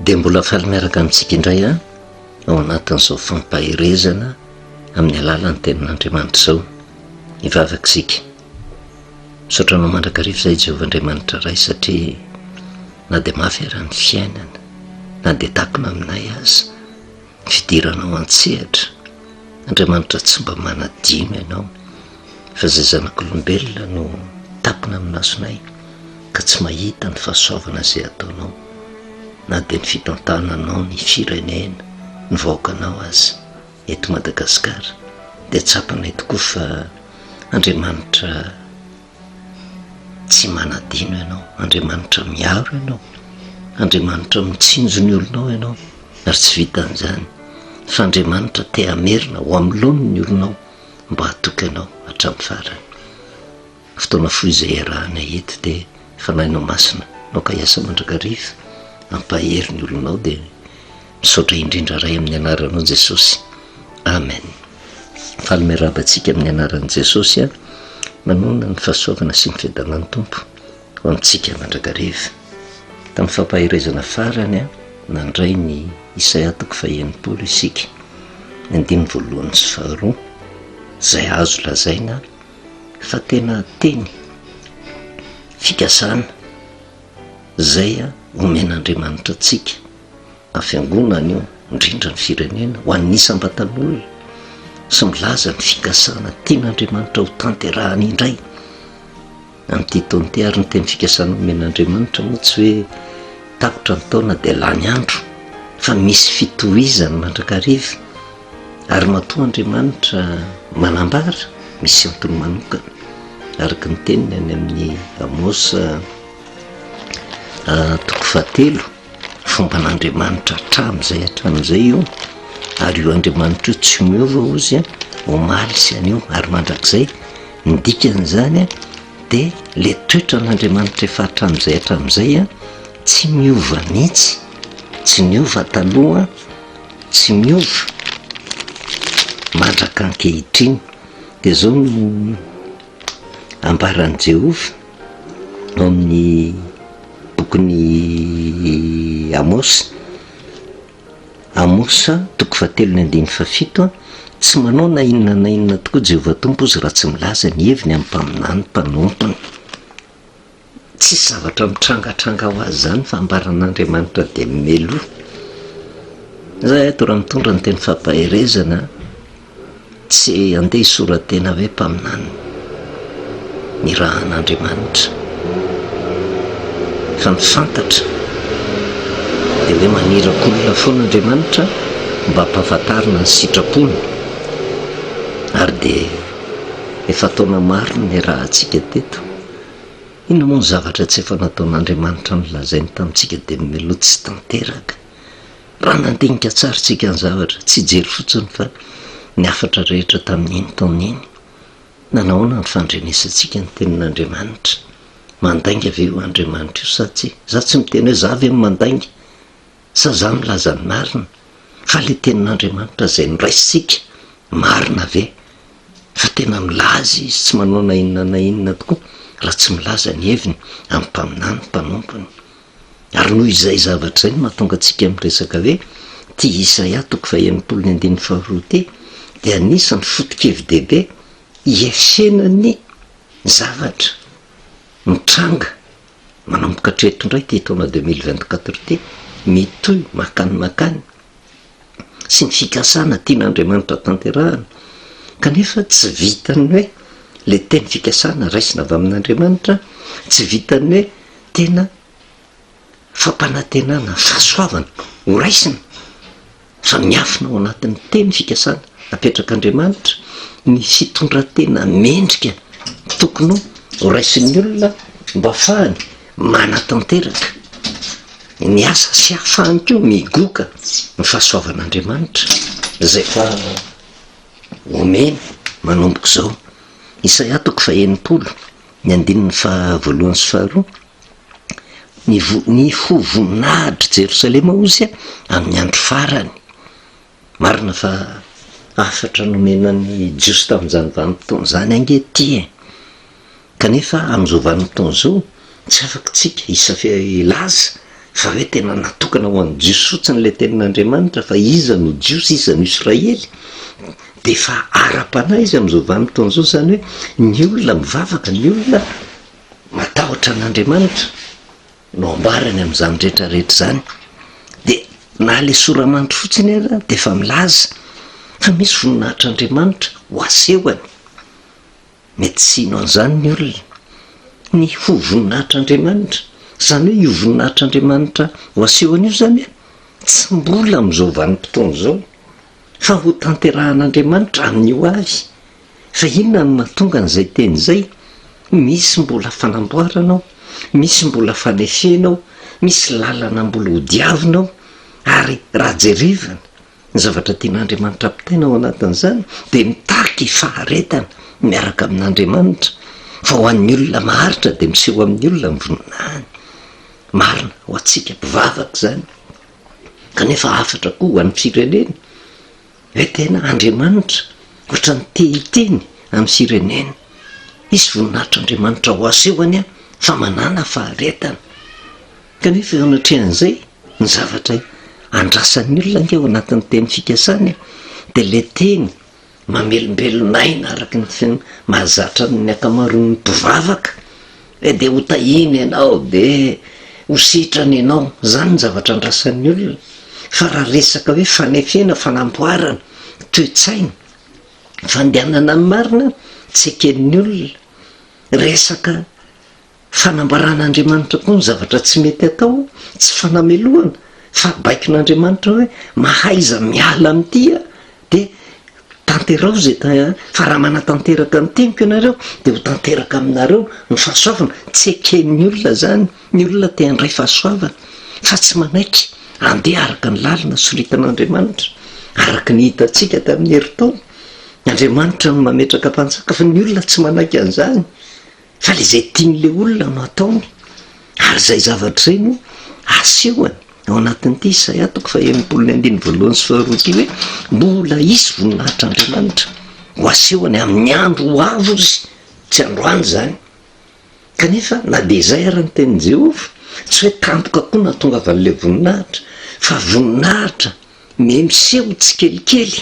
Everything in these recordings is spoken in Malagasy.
dia mbola faly miaraka amintsika indray a ao anatin'izao fampaherezana amin'ny alalan'ny tenin'andriamanitra izao hivavaka isika misaotra anao mandrakariva izay jehovah andriamanitra ray satria na dia mafy ara ny fiainana na dia takona aminay azy fidiranao an-tsehatra, Andriamanitra tsy mba manadino ianao, fa zay zanak'olombelona no tapina amin'ny masonay ka tsy mahita ny fahasoavana zay ataonao, na dia ny fitantananao ny firenena, ny vahoakanao aza, eto Madagasikara dia tsapanay tokoa fa Andriamanitra tsy manadino ianao, Andriamanitra miaro ianao, Andriamanitra mitsinjo ny olonao ianao ary tsy vitan'izany fa Andriamanitra te hamerina ho amin'ny laoniny ny olonao mba hatoky anao hatramin'ny farany. Fotoana fohy izay iarahanay eto dia Fanahinao Masina, naoka hiasa mandrakariva, ampahery ny olonao dia. Misaotra indrindra Ray amin'ny anaranao Jesosy. Amen. Faly miarahaba antsika amin'ny anaran'i Jesosy a. Manoana ny fahasoavana sy ny fiadanan'ny Tompo ho amintsika mandrakariva. Tamin'ny fampaherezana farany a nandray ny Isaia toko fahenipolo isika. Ny andininy voalohany sy faharoa izay azo lazaina fa tena teny fikasana izay omen'Andriamanitra antsika. na fiangonana io, indrindra ny firenena, ho an'ny isam-batan'olona sy milaza ny fikasana tian'Andriamanitra ho tanterahany indray amin'ity taon'ity ary ny teny fikasana omen'Andriamanitra moa tsy hoe tapitra ny taona dia lany andro fa misy fitohizany mandrakariva ary matoa Andriamanitra manambara misy antony manokana araka ny teniny any amin'ny Amosa ah, toko fahatelo Fomban'Andriamanitra hatramin'izay hatramin'izay io, ary io Andriamanitra io tsy miova ozy a, omaly sy anio ary mandrakizay, ny dikan'izany a dia le toetran'Andriamanitra efa hatramin'izay hatramin'izay a, tsy miova mihitsy, tsy niova taloha, tsy miova mandrak'ankehitriny, dia zao no ambaran'i Jehovah. Ao amin'ny bokin'i Amôsy, Amos, toko fahatelo ny andininy fahafito, Tsy manao na inona na inona tokoa Jehovah Tompo izy raha tsy milaza ny heviny amin'ny mpaminany mpanompony. Tsisy zavatra mitrangatranga ho azy izany fambaran'Andriamanitra dia meloha. Zay ato raha mitondra ny teny fampaherezana. Tsy handeha hisora-tena ve mpaminany ny rahan'Andriamanitra? Fa ny fantatra dia hoe maniraka olona foana Andriamanitra mba hampahafantarina ny sitrapony, ary dia efa taona maro no niarahantsika teto, inona moa ny zavatra tsy efa nataon'Andriamanitra nolazainy tamintsika dia miloha tsy tanteraka. Raha nandinika tsara isika ny zavatra, tsy hijery fotsiny fa ny hafatra rehetra tamin'iny taona iny, nanahoana no fandrenesantsika ny Tenin'Andriamanitra? Mandainga ve io Andriamanitra io sa tsia? Izaho tsy miteny hoe izaho ve no mandainga, sa izaho milaza ny marina, fa ilay Tenin'Andriamanitra izay noraisintsika, marina ve fa tena milaza Izy tsy manao na inona na inona tokoa raha tsy milaza ny heviny amin'ny mpaminany mpanompony? Ary noho izay zavatra izay no mahatonga antsika miresaka hoe ity Isaia toko fahenimpolo ny andininy faharoa ity dia anisan'ny foto-kevi-dehibe hiefsena ny zavatra mitranga manomboka hatreto indray ity taona deux mille vingt-quatre ity mitohy makany makany sy ny fikasana tian'Andriamanitra tanterahana, kanefa tsy vitan'ny hoe ilay teny fikasana raisina avy amin'Andriamanitra, tsy vitan'ny hoe tena fampanantenana, fahasoavana ho raisina, fa miafina ao anatin'ny teny fikasana apetrak'Andriamanitra ny fitondran-tena mendrika tokony ho raisin'ny olona mba hahafahany manatanteraka ny asa sy hahafahany koa migoka ny fahasoavan'Andriamanitra izay efa omeny manomboka izao. Isaia toko faha-enimpolo, ny andininy faha-voalohany sy faharoa, Ny vo- ny ho voninahitry Jerosalema hozy amin'ny andro farany. Marina fa hafatra nomena ny Jiosy tamin'izany vanim-potoana izany ange ity e! Kanefa amin'izao vanim-potoana izao, tsy afaka isika hisafia hilaza fa hoe tena natokana ho an'ny Jiosy fotsiny ilay Tenin'Andriamanitra, fa iza no Jiosy, iza no Israely? Dia efa ara-panahy izy amin'izao vanim-potoana izao, izany hoe ny olona mivavaka, ny olona matahotra an'Andriamanitra. no ambarany amin'izany rehetra rehetra izany dia na ilay soramanitro fotsiny aza dia efa milaza fa misy voninahitr'Andriamanitra ho asehony, mety tsy hino an'izany ny olona, ny ho voninahitr'Andriamanitra, izany hoe io voninahitr'Andriamanitra ho asehony io izany tsy mbola amin'izao vanim-potoana izao fa ho tanterahan'Andriamanitra amin'ny ho avy. Fa inona no mahatonga an'izay teny izay? Misy mbola fanamboarana ao, misy mbola fanefena ao, misy lalana mbola hodiavina ao, ary raha jerevana ny zavatra tian'Andriamanitra ampitaina ao anatin'izany dia mitaky faharetana miaraka amin'Andriamanitra, fa ho an'ny olona maharitra dia miseho amin'ny olona ny voninahiny. Marina ho antsika mpivavaka izany, kanefa hafatra koa ho an'ny firenena. Ilay tena Andriamanitra ohatran'ny te hiteny amin'ny Sirenena, Hisy voninahitr'Andriamanitra ho aseho any aho fa manàna faharetana. Kanefa eo anatrehan'izay, ny zavatra andrasan'ny olona ange ao anatin'ny teny fikasany dia ilay teny mamelombelon'aina araka ny mahazatra ny ankamaroan'ny mpivavaka, Eh dia ho tahiana ianao dia ho sitrana ianao, izany ny zavatra andrasan'ny olona, fa raha resaka hoe fanefena, fanamboarana, toe-tsaina, fandehanana amin'ny marina, tsy eken'ny olona, resaka fanambaran'Andriamanitra koa ny zavatra tsy mety atao, tsy fanamelohana, fa baikon'Andriamanitra hoe mahaiza miala amin'ity ah, Dia tanterao izay tany, fa raha manatanteraka ny teniko ianareo, dia ho tanteraka aminareo ny fahasoavana. Tsy eken'ny olona izany. Ny olona te handray fahasoavana, fa tsy manaiky handeha araka ny lalana soritan'Andriamanitra, araka ny hitantsika tamin'ny herintaona. Andriamanitra no mametraka mpanjaka, fa ny olona tsy manaiky an'izany. Fa le zay tian'le olona no ataony ary zay zavatra zay no asehony ao anatin'ity izay atoko fa enimpolo ny andininy voalohany sy faharoa ity hoe mbola hisy voninahitr'Andriamanitra ho asehony amin'ny andro ho avy ozy tsy androany zany kanefa na de zay ary ny tenin'i Jehovah tsy hoe tampoka koa no ahatongavan'le voninahitra fa voninahitra Ny miseho tsikelikely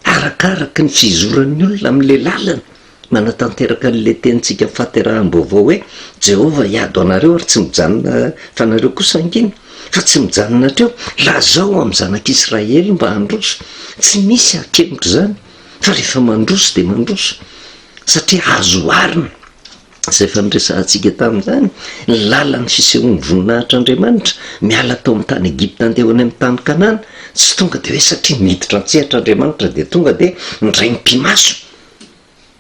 arakaraka ny fizoran'ny olona amin'ilay lalana manatanteraka an'ilay tenintsika fahateraham-baovao hoe, Jehovah hiady ho anareo ary tsy mijanona fa nareo kosa hangina, fa tsy mijanona hatreo. Lazao amin'ny zanak'Israely mba handroso. Tsy misy hakemotr'izany fa rehefa mandroso dia mandroso, satria azo oharina. izay efa niresahantsika tamin'izany, ny lalan'ny fisehoan'ny voninahitr'Andriamanitra, miala tao amin'ny tany Egypta handeha ho any amin'ny tany Kanana, tsy tonga dia hoe satria niditra an-tsehatra Andriamanitra dia tonga dia niraim-pimaso,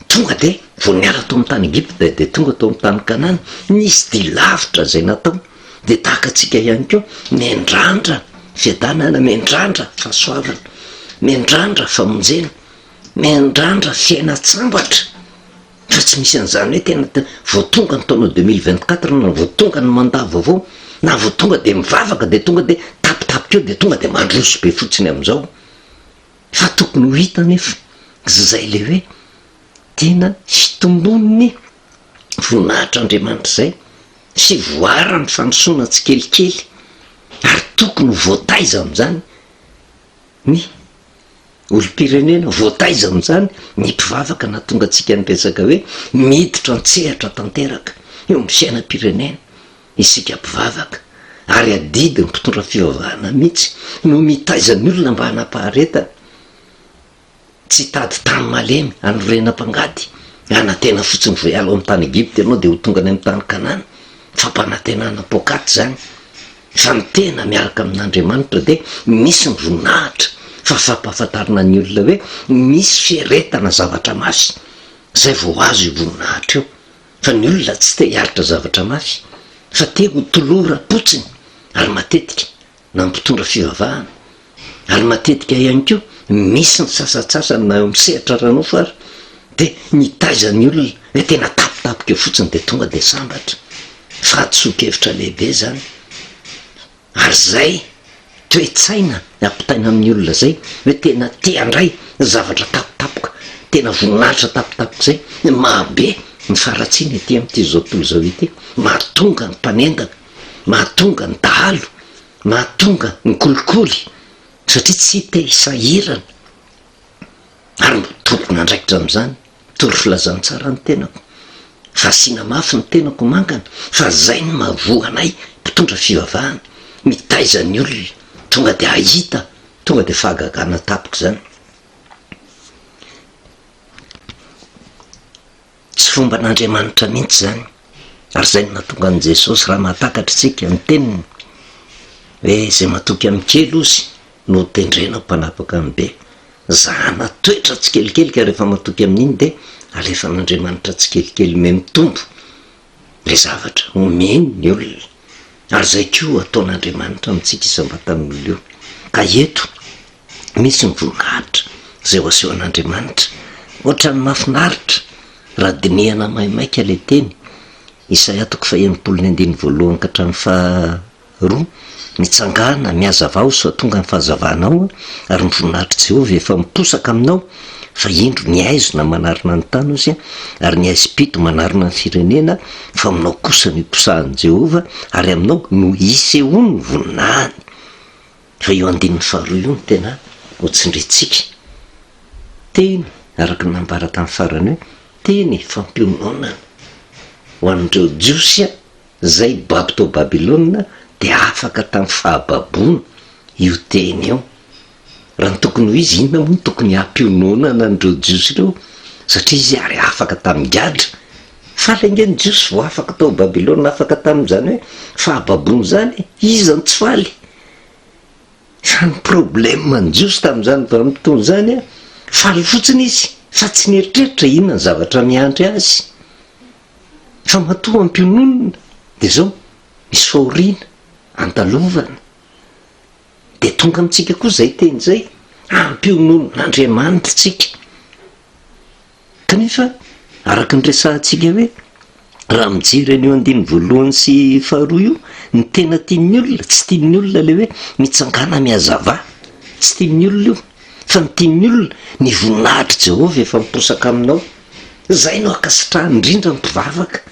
tonga dia vao niala tao amin'ny tany Egypta dia tonga tao amin'ny tany Kanana, nisy dia lavitra izay natao, dia tahaka antsika ihany koa, miandrandra fiadanana, miandrandra fahasoavana, miandrandra famonjena, miandrandra fiainan-tsambatra. Raha tsy misy an'izany hoe tena vao tonga ny taona deux mille vingt quatre na vao tonga ny mandat vaovao na vao tonga dia mivavaka dia tonga dia tapitapika eo dia tonga dia mandroso be fotsiny amin'izao fa tokony ho hita anefa izay le hoe tena hitomboan'ny voninahitr'Andriamanitra izay sy voaran'ny fandrosoana tsikelikely ary tokony ho voataiza amin'izany. Ny olom-pirenena voataiza amin'izany ny mpivavaka nahatonga antsika niresaka hoe miditra an-tsehatra tanteraka eo amin'ny fiainam-pirenena isika mpivavaka ary adidy ny mpitondra fivavahana mihitsy no mitaiza ny olona mba hanapaharetana tsy hitady tany malemy hanorena mpangady, hanantena fotsiny vao hiala ao amin'ny tany Egypta ianao dia ho tonga any amin'ny tany Kanana, fampanantenana poakaty izany, fa ny tena miaraka amin'Andriamanitra dia misy ny voninahitra, fa fampahafantarana ny olona hoe misy fieretana zavatra mafy izay vao azo io voninahitra io, fa ny olona tsy te hiaritra zavatra mafy fa te ho tolora potsiny ary matetika na mpitondra fivavahana, ary matetika ihany koa misy ny sasantsasany na eo amin'ny sehatra ara-nofo ary dia mitaiza ny olona hoe tena tapitapika eo fotsiny dia tonga dia sambatra, fahadisoan-kevitra lehibe izany, ary izay toe-tsaina ampitaina amin'ny olona izay hoe tena tia handray zavatra tapitapoka, tena voninahitra tapitapoka izay no mahabe ny faharatsiana ety amin'ity izao tontolo izao ity, mahatonga ny mpanendaka. mahatonga ny dahalo, mahatonga ny kolikoly satria tsy te hisahirana ary mba tompon'andraikitra amin'izany tory filazantsara ny tenako fa asiana mafy ny tenako mangana fa zay no mahavoa anay mpitondra fivavahana mitaiza ny olona tonga de ahita tonga de fahagagana tapaka izany Tsy fomban'Andriamanitra mihitsy izany, ary izay no nahatonga an'i Jesosy raha mahatakatra isika ny teniny hoe izay matoky amin'ny kely ozy no ho tendrena ho mpanapaka amin'ny be. Zahana toetra tsikelikely ka rehefa matoky amin'iny dia alefan'Andriamanitra tsikelikely me mitombo ilay zavatra omeny ny olona, ary izay koa ataon'Andriamanitra amintsika isam-batan'olona io. Ka eto misy ny voninahitra izay ho asehon'Andriamanitra. Ohatran'ny mahafinaritra raha dinihana maimaika ilay teny, Isaia toko faha-enimpolo ny andininy voalohany ka hatramin'ny faharoa, Mitsangàna, mihazavà ho soa tonga ny fahazavanao, ary ny voninahitr'i Jehovah efa miposaka aminao, fa indro, ny haizina manarona ny tany hozy, ary ny haizim-pito manarona ny firenena, fa aminao kosa no hiposahan'i Jehovah, ary aminao no hisehoan'ny voninahiny. Fa io andininy faharoa io no tena hotsindriantsika. Teny, araka ny nambara tamin'ny farany hoe, teny fampiononana ho an'ireo Jiosy izay babo tao Babylona dia afaka tamin'ny fahababoana io teny io. Raha ny tokony ho izy, inona moa no tokony hampiononana an'ireo Jiosy ireo? Satria izy ary afaka tamin'ny gadra. Faly ange ny Jiosy vao afaka tao Babylona, afaka tamin'izany hoe fahababoana izany e! Iza no tsy faly? Zany problème an'i Jiosy tamin'izany vanim-potoana izany, faly fotsiny izy fa tsy nieritreritra inona ny zavatra miandry azy. Fa matoa ampiononina dia izao misy fahoriana andalovana. Dia tonga amintsika koa izay teny izay, ampiononina an'Andriamanitra isika. Kanefa, araka ny resahantsika hoe, raha mijery an'io andininy voalohany sy faharoa io, ny tena tian'ny olona, tsy tian'ny olona ilay hoe mitsangàna mihazavà. Tsy tian'ny olona io. Fa ny tian'ny olona, ny voninahitr'i Jehovah efa miposaka aminao. Izay no ankasitrahany, indrindra ny mpivavaka.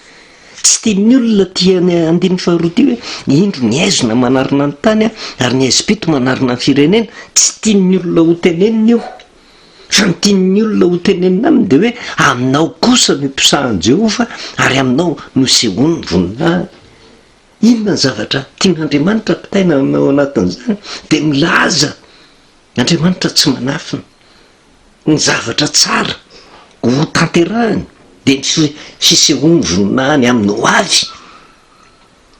Tsy tian'ny olona aty amin'ny andininy faharoa ity hoe, Indro ny haizina manarona ny tany, ary ny haizim-pito manarona ny firenena. Tsy tian'ny olona hotenenina io. Fa ny tian'ny olona hotenenina aminy dia hoe, Aminao kosa no iposahan'i Jehovah, ary aminao no isehoany ny voninahiny. Inona ny zavatra tian'Andriamanitra ampitaina ao anatin'izany? Dia milaza, Andriamanitra tsy manafina. Ny zavatra tsara hotanterahiny dia ny fisehoan'ny voninahiny amin'ny hoavy.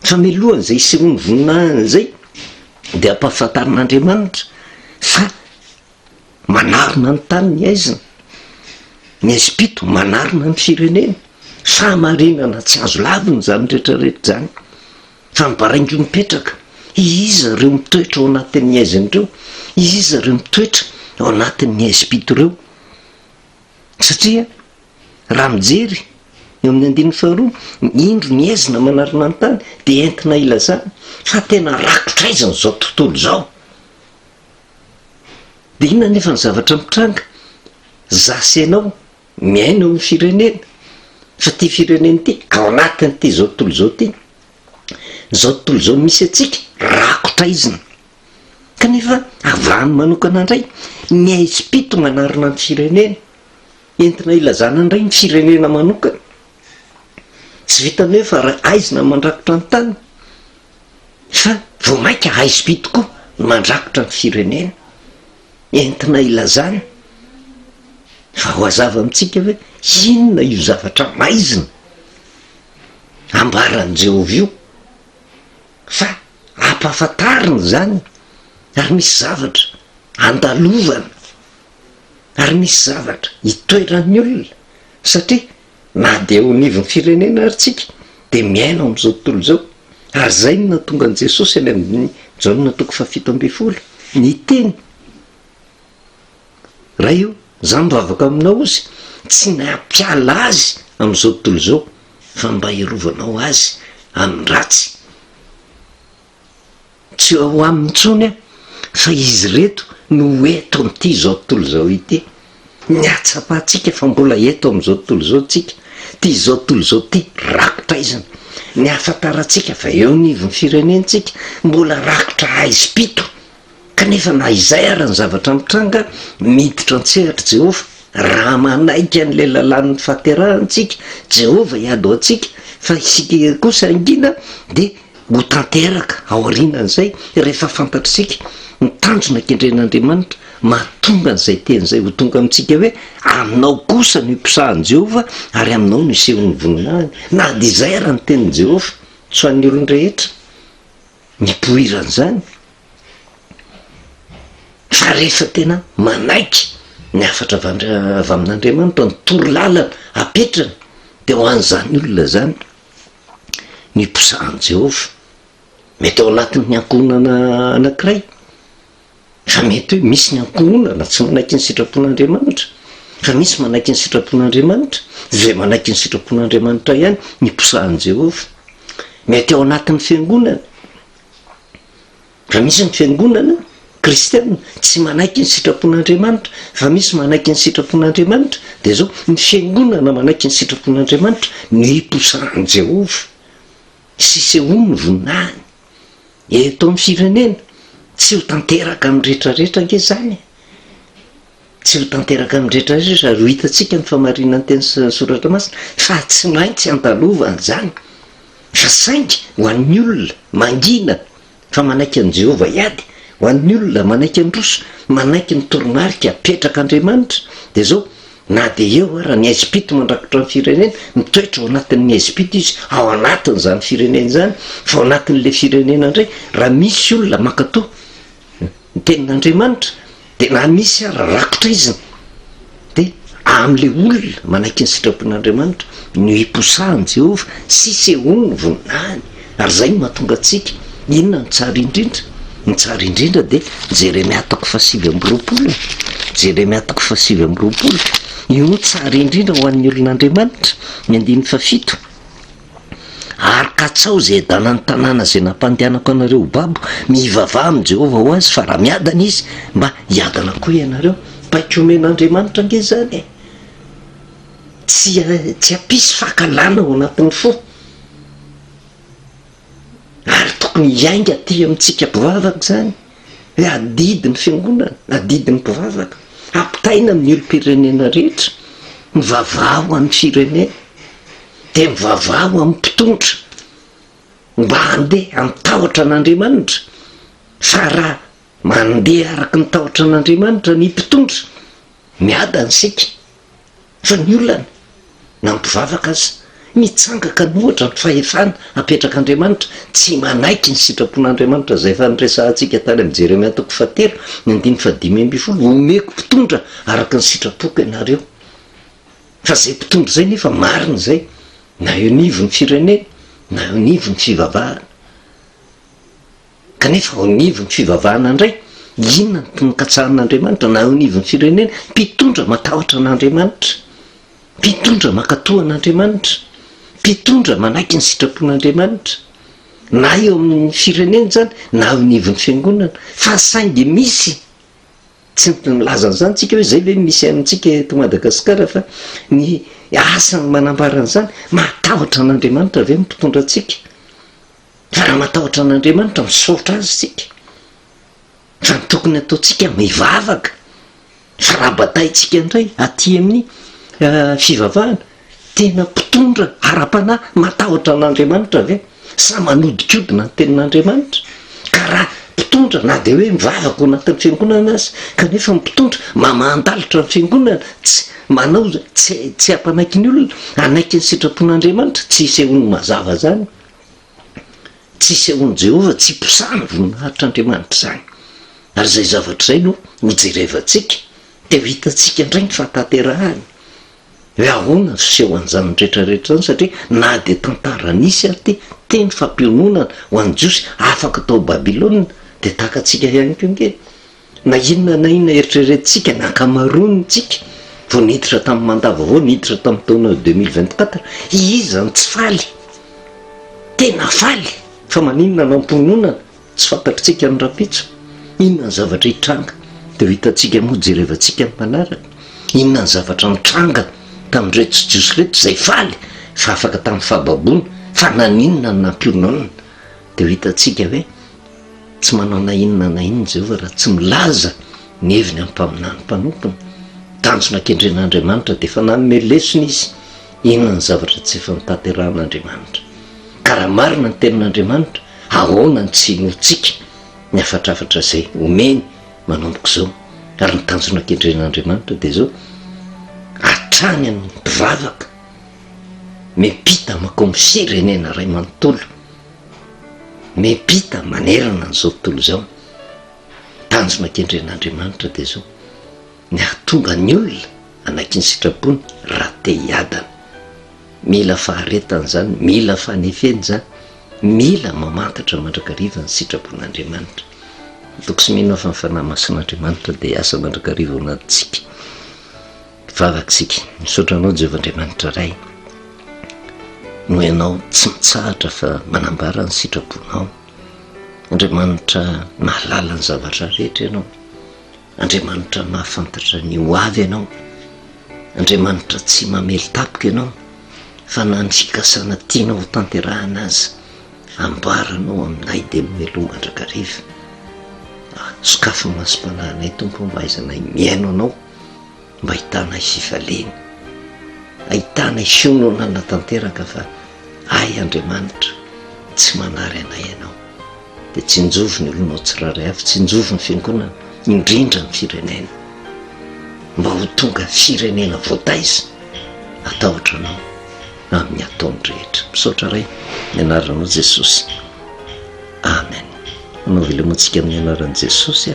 Fa mialohan'izay hisehoan'ny voninahiny izay, dia ampahafantarin'Andriamanitra fa, Manarona ny tany ny haizina, ny haizim-pito manarona ny firenena. Fahamarinana tsy azo lavina izany rehetra rehetra izany, fa ny baraingo mipetraka, iza ireo mitoetra ao anatin'ny haizina ireo, iza ireo mitoetra ao anatin'ny haizim-pito ireo, satria raha mijery eo amin'ny andininy faharoa, indro ny haizina manarona ny tany dia entina ilazana fa tena rakotr'aizina izao tontolo izao, Dia inona anefa ny zavatra mitranga? Za sy ianao miaina eo amin'ny firenena, fa ity firenena ity, ao anatin'ity izao tontolo izao ity, izao tontolo izao misy antsika, rakotra izina. Kanefa avy any manokana indray, ny aizim-pito manarina ny firenena, entina hilazana indray ny firenena manokana. Tsy vitan'ny hoe fa ra- aizina mandrakotra ny tany. Fa vao mainka haizibe tokoa ny mandrakotra ny firenena, entina ilazana fa ho azava amintsika hoe inona io zavatra maizina ambaran'i Jehovah io, fa ampahafantarina izany, ary misy zavatra andalovana, ary misy zavatra itoeran'ny olona, satria Na dia eo anivon'ny firenena ary tsika dia miaina ao amin'izao tontolo izao. Ary izay no nahatonga an'i Jesosy any amin'ny Jaona toko fahafito ambin'ny folo, niteny, Ray o, izaho mivavaka aminao ozy, tsy ny hampiala azy amin'izao tontolo izao, fa mba hirovanao azy amin'ny ratsy. Tsy ao aminy intsony aho fa izy ireto no eto amin'ity izao tontolo izao ity. Ny hahatsapantsika fa mbola eto amin'izao tontolo izao tsika, ity izao tontolo izao ity rakotra aizina. Ny hahafantarantsika fa eo anivon'ny firenentsika mbola rakotra haizim-pito, kanefa na izay ara ny zavatra mitranga, miditra an-tsehatr'i Jehovah, raha manaiky an'ilay lalàn'ny fahaterahana isika, Jehovah hiady ho antsika, fa isika kosa hangina dia Ho tanteraka aorianan'izay, rehefa fantatr'isika ny tanjona kendren'Andriamanitra, mahatonga an'izay teny izay ho tonga amintsika hoe, Aminao kosa no iposahan'i Jehovah, ary aminao no isehon'ny voninahiny. Na dia izay ara ny tenin'i Jehovah, tsy ho an'ny olon-drehetra ny hipoiran'izany. Fa rehefa tena manaiky ny hafatra avy amin'Andriamanitra, ny torolalana apetrany, dia ho an'izany olona izany. niposahan'i Jehovah. Mety ao anatin'ny ankohonana anankiray, fa mety hoe misy ny ankohonana tsy manaiky ny sitrapon'Andriamanitra. Fa misy manaiky ny sitrapon'Andriamanitra, izay manaiky ny sitrapon'Andriamanitra ihany niposahan'i Jehovah. Mety ao anatin'ny fiangonana. Raha misy ny fiangonana kristiana tsy manaiky ny sitrapon'Andriamanitra, fa misy manaiky ny sitrapon'Andriamanitra, dia izao, ny fiangonana manaiky ny sitrapon'Andriamanitra no iposahan'i Jehovah sy isehoany ny voninahiny eto amin'ny firenena. Tsy ho tanteraka amin'ny rehetra rehetra ange izany e! Tsy ho tanteraka amin'ny rehetra rehetra izy ary ho hitantsika ny famarinan'ny teny sy ny soratra masina fa tsy maintsy andalova an'izany fa saingy ho an'ny olona mangina fa manaiky an'i Jehovah hiady, ho an'ny olona manaiky handroso, manaiky ny toromarika apetrak'Andriamanitra dia izao, Na dia eo ara ny Ezipito mandrakotra ny firenena, mitoetra ao anatin'ny Ezipito izy, ao anatin'izany firenena izany, fa ao anatin'ilay firenena indray raha misy olona mankatò ny tenin'Andriamanitra dia na misy ary rakotra izy dia amin'ilay olona manaiky ny sitrapon'Andriamanitra no iposahan'i Jehovah sy isehoany ny voninahiny, ary izay no mahatonga antsika. Inona no tsara indrindra? Ny tsara indrindra dia Jeremia toko fahasivy amby roapolo e! Jeremia toko fahasivy amby roapolo. Io no tsara indrindra ho an'ny olon'Andriamanitra. Ny andininy fahafito. Ary katsaho izay adalan'ny tanàna izay nampandehanako anareo ho babo. Mivavaha amin'i Jehovah ho azy, fa raha miadana izy, mba hiadana koa ianareo. Paika omen'Andriamanitra ange izany e! Tsy, tsy hampisy fankahalana ao anatin'ny fo. Ary tokony hiainga aty amintsika mpivavaka izany. hoe adidy ny fiangonana, adidy ny mpivavaka, ampitaina amin'ny olom-pirenena rehetra, mivavaha ho an'ny firenena, dia mivavaha ho amin'ny mpitondra mba handeha amin'ny tahotra an'Andriamanitra, fa raha mandeha araka ny tahotra an'Andriamanitra ny mpitondra, miadana isika. fa ny olana na mpivavaka aza mitsangaka ny ohatra ny fahefana apetrak'Andriamanitra tsy manaiky ny sitrapon'Andriamanitra izay efa niresahantsika tany amin'ny Jeremia toko fahatelo ny andininy fahadimy ambin'ny folo omeko mpitondra araka ny sitrapoko ianareo fa izay mpitondra izay nefa marina izay na eo anivon'ny firenena na eo anivon'ny fivavahana Kanefa ao anivon'ny fivavahana indray, inona no tonon-katsahan'Andriamanitra? Na eo anivon'ny firenena, mpitondra matahotra an'Andriamanitra? Mpitondra mankatò an'Andriamanitra? Mpitondra manaiky ny sitrapon'Andriamanitra? Na eo amin'ny firenena izany, na eo anivon'ny fiangonana. Fa saingy misy, tsy niteny milaza an'izany tsika hoe izay ve no misy amintsika eto Madagasikara fa ny asa no manambara an'izany, matahotra an'Andriamanitra ve ny mpitondra antsika? Raha matahotra an'Andriamanitra, misaotra Azy isika, raha ny tokony hataontsika, mivavaka, fa raha bataintsika indray aty amin'ny eh, fivavahana, tena mpitondra ara-panahy, matahotra an'Andriamanitra ve? Sa manodikodina ny tenin'Andriamanitra? Ka raha mpitondra na dia hoe mivavaka ao anatin'ny fiangonana aza, kanefa ny mpitondra mamandalitra ny fiangonana, tsy manao tsy tsy hampanaiky ny olona, hanaiky ny sitrapon'Andriamanitra, tsy isehoan'ny mazava izany. Tsy isehoan'i Jehovah, tsy iposahan'ny voninahitr'Andriamanitra izany. Ary izay zavatra izay no hojerevantsika, dia ho hitantsika indray ny fahatanterahany. Hoe ahoana ny fisehoan'izany rehetra rehetra izany? Satria na dia tantara nisy ary ity teny fampiononana ho an'ny Jiosy afaka tao Babylona, dia tahaka antsika ihany koa ange. Na inona na inona eritreretintsika, ny ankamaroantsika, vao niditra tamin'ny mandat vaovao, niditra tamin'ny taona deux mille vingt quatre, iza no tsy faly? Tena faly, fa maninona no am-pononana? Tsy fantatritsika ny rahampitso. Inona ny zavatra hitranga? Dia ho hitantsika moa, jerevantsika ny manaraka. Inona ny zavatra nitranga tamin'ireto jiosy ireto izay faly fa afaka tamin'ny fahababoana? Fa naninona no nampiononana? Dia ho hitantsika hoe tsy manao na inona na inona Jehovah raha tsy milaza ny heviny amin'ny mpaminany mpanompony. Tanjona kendren'Andriamanitra dia efa nanome lesona izy inona ny zavatra tsy efa notanterahan'Andriamanitra. Ka raha marina ny tenin'Andriamanitra, ahoana no tsy hinoantsika ny hafatrafatra izay omeny manomboka izao? Ary ny tanjona kendren'Andriamanitra dia izao, hatrany amin'ny mpivavaka miampita makao amin'ny firenena iray manontolo. Miampita manerana an'izao tontolo izao, ny tanjona kendren'Andriamanitra dia izao, ny hahatonga ny olona hanaiky ny sitrapony raha te hiadana. Mila faharetana izany, mila fanefena izany, mila mamantatra mandrakariva ny sitrapon'Andriamanitra. Mitoky sy mino aho fa ny Fanahy Masin'Andriamanitra dia hiasa mandrakariva ao anatintsika. Mpivavaka isika, misaotra Anao Jehovah Andriamanitra Ray, noho Ianao tsy mitsahatra fa manambara ny sitraponao. Andriamanitra mahalala ny zavatra rehetra Ianao, Andriamanitra mahafantatra ny ho avy Ianao, Andriamanitra tsy mamely tapika Ianao, fa na ny fikasana tianao ho tanterahana aza, amboaranao aminay dia mialoha mandrakariva. Sokafy ny masom-panahinay Tompo mba hahaizanay mihaino Anao. mba ahitana i Sifaleny, ahitana i Siono nanatanteraka fa Ahy Andriamanitra, tsy manary anay ianao. Dia tsinjovy ny olonao tsirairay avy, tsinjovy ny fiangonana, indrindra ny firenena, mba ho tonga firenena voataiza, atahotra anao amin'ny ataony rehetra. Misaotra Ray, ny anaranao Jesosy. Amen. Anaovy lemontsika amin'ny anaran'i Jesosy.